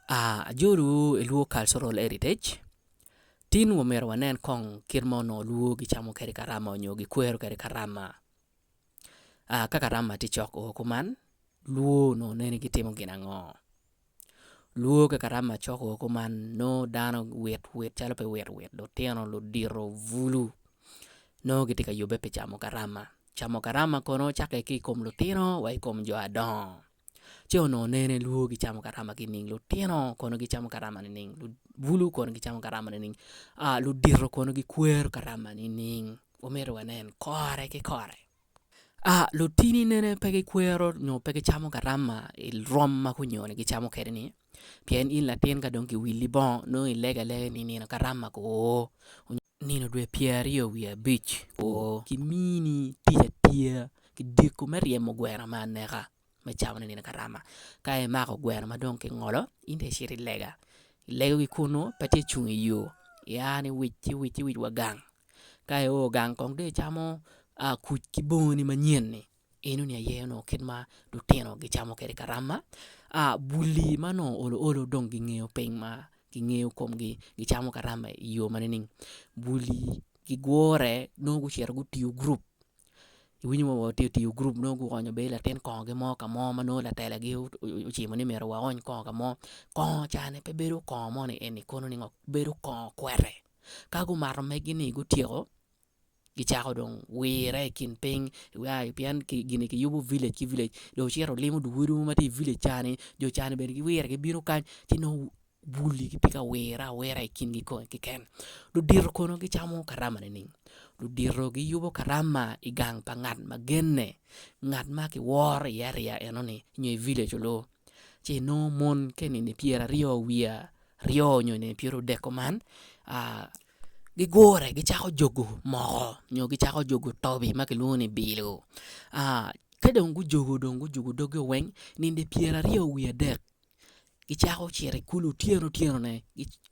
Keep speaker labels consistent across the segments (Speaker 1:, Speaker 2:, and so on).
Speaker 1: Ajolowu i lwo Cultural Heritage tin wa omyero wanen kong kit ma onongo lwo gicamo kwede karama nyo gikwero kwede karama ka karama tye cok oo kuman lwo onongo nene gitimo gin ango lwo ka karama cok oo kuman nongo dano wit wit calo pe wit wit lutino ludito bulu nongo gitye ka yubbe pi camo karama camo karama kono cakke ki i kom lutino wa i kom jo adongo. ce onongo nene lwor gicamo garama nining lutino kono gicamo garama nining bulu kono gicamo garama nining ludito kono gikwero garama nining wamyero wanen kore ki kore lutini nene pe gikwero nyo pe gicamo garama i rwom ma gunyoni gicamo kwede ni pien in latin ka dong kiwili bongo nongo ilego alega ni i nino garama kwo Nino dwe pyeraryo wiye abic o, kimini tic atiya ki diko me ryemo gweno me aneka me cawa ni nino karama. Ka imako gweno ma dong kingolo, in dong icito i lega, ilego ki kunnu pe tye cung i yo, ia ni wic ci wic ci wic wa gang. Ka io gang kong dong icamo kuc ki bongoni manyen-ni. Enoni aye onongo kit ma lutino gicamo kwede karama. Buli ma onongo olo olo dong gingeyo piny ma gingeyo komgi gicamo karama i yo ma nining? Buli gigure nongo gucito gutiyo gurup iwinyo wa watye tiyo gurup nongo guonyo bene latin kongogi mo ka mo ma nongo latelagi ocimo ni myero waony kongo ka mo kongo ca ni pe bedo kongo moni eni kono ni ngo bedo kongo kwete ka gumato megi ni gutyeko gicako dong wire i kin piny pien gin kiyubo village ki village jo ocito olimo dye odi ma tye i village ca ni jo ca ni bene giwire gibino kany ci nongo bul ni gitye ka wire awira i kingi kong keken ludito kono gicamo karama nining? ludito giyubo karama i gang pa ngat ma genne ngat ma kiworo iye ariya eno ni nyo i village onongo ci inongo mon ka i nini pyeraryo wiye aryo nyo i nini pyerudek kuman gigure gicako jogo moko nyo gicako jogo tobi ma kilwongo ni bilo ka dong gujogo dong gujogo doggio weng nino pyera aryo wiye adek gicako cito i kulu otyeno otyenone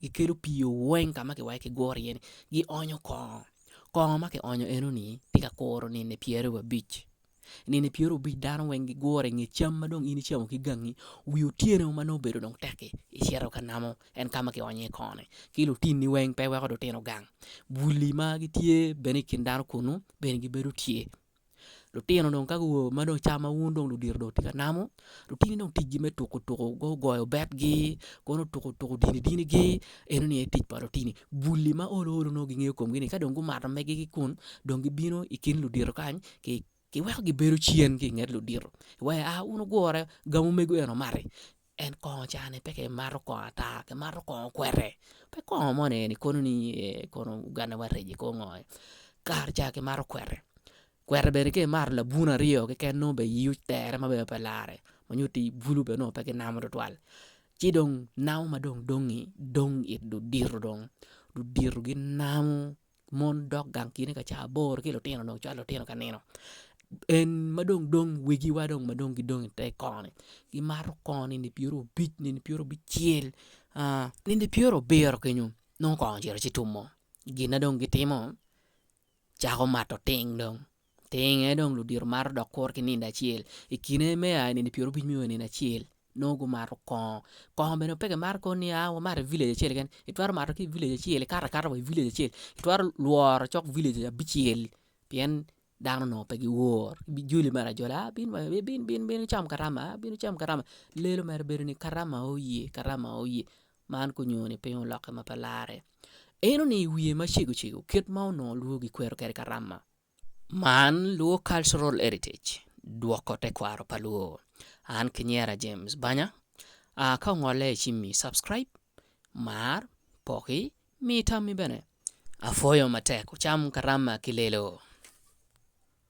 Speaker 1: gikelo pii weng ka ma kiwaco ki gure iye-ni gionyo kongo kongo ma kionyo enoni tye ka kuro nino pyere wiye abic. nino pyerabicc dano weng gigure i nge cam ma dong in icamo ki gangi wi otyeno ma nongo obedo dong tekki icito ka namo en ka ma kionyo iye koni ki lutinni weng pe iweko dong itino gang bwulli ma gitye bene i kin dano kunnu bene gibedo tye lutino dong ka guo ma dong cam ma wun dong ludito dong wutye ka namo lutini dong ticgi me tuko tuko gugoyo betgi kono tuko tuko dini dini gi eno ni aye tic pa lutini gulli ma olo olo nongo gingeyo komgi ni ka dong gumato megi ki kun dong gibino i kin ludito kany ki kiweko gibedo cen ki inget ludito wa a wun wugure gang omego eno omati en kongo cani pe ki mato kongo ata ki mato kongo kwete pe kongo moni eni kono ni ee kono Uganda wa regi kongo kare ca ki mato kwete Kweta bene ka imato labun aryo keken nongo bene iyii otere ma bene pe larre ma nyo tii bulu bene nongo pe ginamo tutwal ci dong namo ma dong dongngi dong it ludito dong ludito ginamo mon dok gang kine ka ca aboro ki lutino dong cwalo lutino ka nino en ma dong dong wigiwa dong ma dong gidong ite koni gimato koni nini pyeriobic nini pyerobicel nini pyerobiro kenyo nongo kong ocito ci tumo gin na dong gitimo Cako mato ting dong. Ting aye dong ludito mato dok kuro ki nindo acel. I kine me a i nino pyerobic me o i nino acel, nongo gumato kongo. Kongo bene pe kimato kor ni aa wamato i village acel keken, itwero mato ki i village acel, ikato akata wa i village acel, itwero lworo cok village abicel pien dano onongo pe giwor. Bijoli mere ajola aa bin wa i bin bin bin wucam karama aa bin wucam karama. Lelo mere bedo ni karama oo ye, karama oo ye. Man gunyo ni piny olokke ma pe larre. Eno ni i wiye macego cego kit ma onongo lwor gikwero kwede Karama. Man Luo Cultural Heritage dwoko tekwaro pa Luo. An kinyera James Banya. A ka ongolle i cimmi, subscribe, mar, poki, mi tammi bene. Apwoyo matek, wucam Karama ki Lelo.